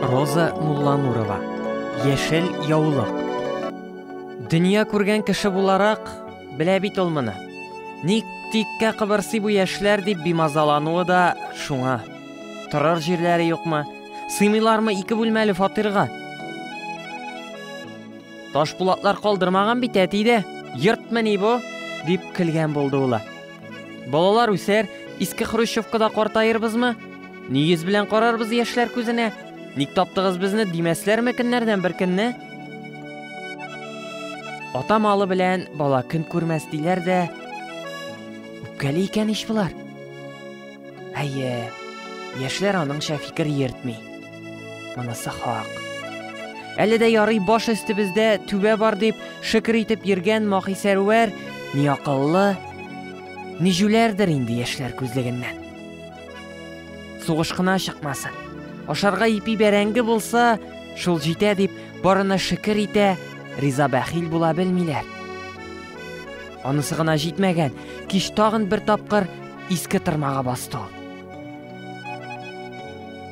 Роза Мулланурова. Яшел яулык. Дөнья күргән кеше буларак, белә бит ул моны. Ник тиккә кыбырсый бу яшьләр дип бимазалануы да шуңа. Торар җирләре юкмы? Сыймыйлармы ике бүлмәле фатирга? Ташпулатлар калдырмаган бит әти дә. Йортмы ни бу? дип көлгән булды ул. Балалар үсәр, иске хрущевкада картаербызмы? Ни йөз белән карарбыз яшьләр күзенә? Ник таптыгыз безне димәсләрме көннәрдән бер көнне? Ата малы белән бала көн күрмәс диләр дә. Үпкәли икән ич болар. Әйе, яшьләр аныңча фикер йөртми. Монысы хак. Әле дә ярый баш өстебездә түбә бар дип шөкер итеп йөргән Махисәрвәр ни акыллы, ни җүләрдер инде яшьләр күзлегеннән. Сугыш кына чыкмасын. Ашарга ипи бәрәңге булса, шул җитә дип барына шөкер итә, риза бәхил була белмиләр. Анысы гына җитмәгән, кич тагын бер тапкыр иске тырмага басты ул.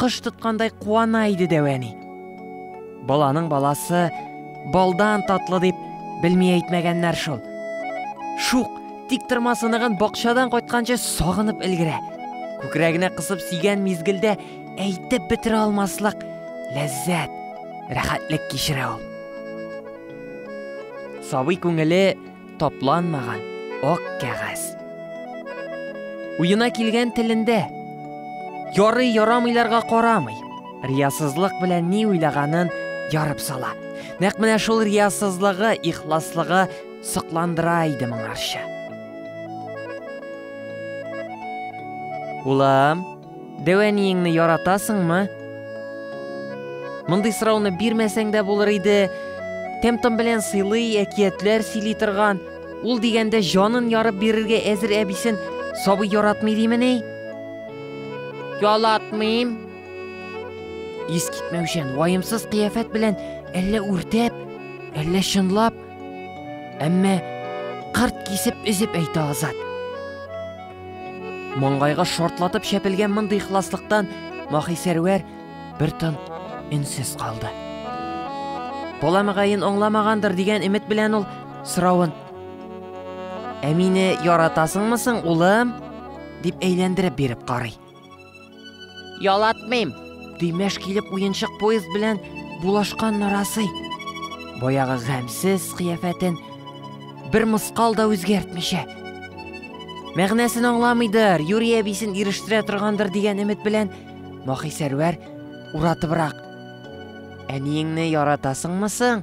кош тоткандай куана иде дәвәни. Баланың баласы балдан татлы дип белми әйтмәгәннәр шул. Шук, тик тырма сыныгын бакчадан кайтканчы сагынып өлгерә. Күкрәгенә кысып сигән мизгелдә әйтеп бетерә алмаслык ләззәт, рәхәтлек кичерә ул. Сабый күңеле тапланмаган ак кәгазь. Уена килгән телендә. Ярый ярамыйларга карамый. Риясызлык белән ни уйлаганын ярып сала. Нәкъ менә шул риясызлыгы, ихласлыгы сокландыра иде моңарчы. Улам, Дәү әниеңне яратасыңмы? Мондый сорауны бирмәсәң дә булыр иде. Тәм-том белән сыйлый, әкиятләр сөйли торган, ул дигәндә җанын ярып бирергә әзер әбисен сабый яратмый димени? Ялатмыйм. Ис китмәүчән, ваемсыз кыяфәт белән әллә үртәп, әллә чынлап, әмма кырт кисеп өзеп әйтә Азат. Маңгайга шартлатып чәпелгән мондый ихласлыктан Махи Сәрвәр бер тын өнсез калды. Бала мөгаен аңламагандыр дигән өмет белән ул сорауын Ә мине яратасыңмы соң, улым? дип әйләндереп биреп карый. Ялатмыйм. Төймәш килеп уенчык поезд белән булашкан нарасый. Баягы гамьсез кыяфәтен бер мыскал да үзгәртмичә. Мәгънәсен аңламыйдыр, Юрий әбисен ирештерә торгандыр дигән өмет белән Махи Сәрвәр уратыбрак. Әниеңне яратасыңмы соң?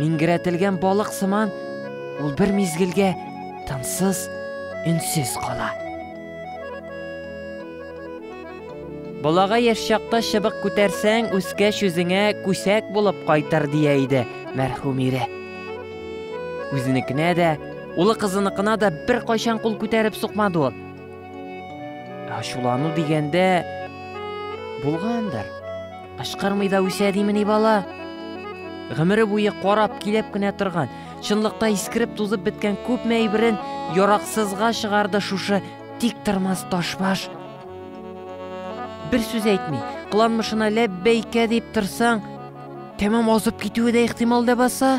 Миңгерәтелгән балык сыман ул бер мизгелгә тынсыз, өнсез кала. Балага яшь чакта чыбык күтәрсәң, үскәч үзеңә күсәк булып кайтыр дия иде мәрхүм ире. Үзенекенә дә, улы кызыныкына да бер кайчан кул күтәреп сукмады ул. Ачулану дигәндә булгандыр. Кычкырмый да үсә димени бала? Гомере буе карап, килеп кенә торган, чынлыкта искереп тузып беткән күпме әйберен яраксызга чыгарды шушы тик тормас ташбаш. Бер сүз әйтми, кыланмышына ләббәйкә дип торсаң, тәмам азып китүе дә ихтимал ләбаса.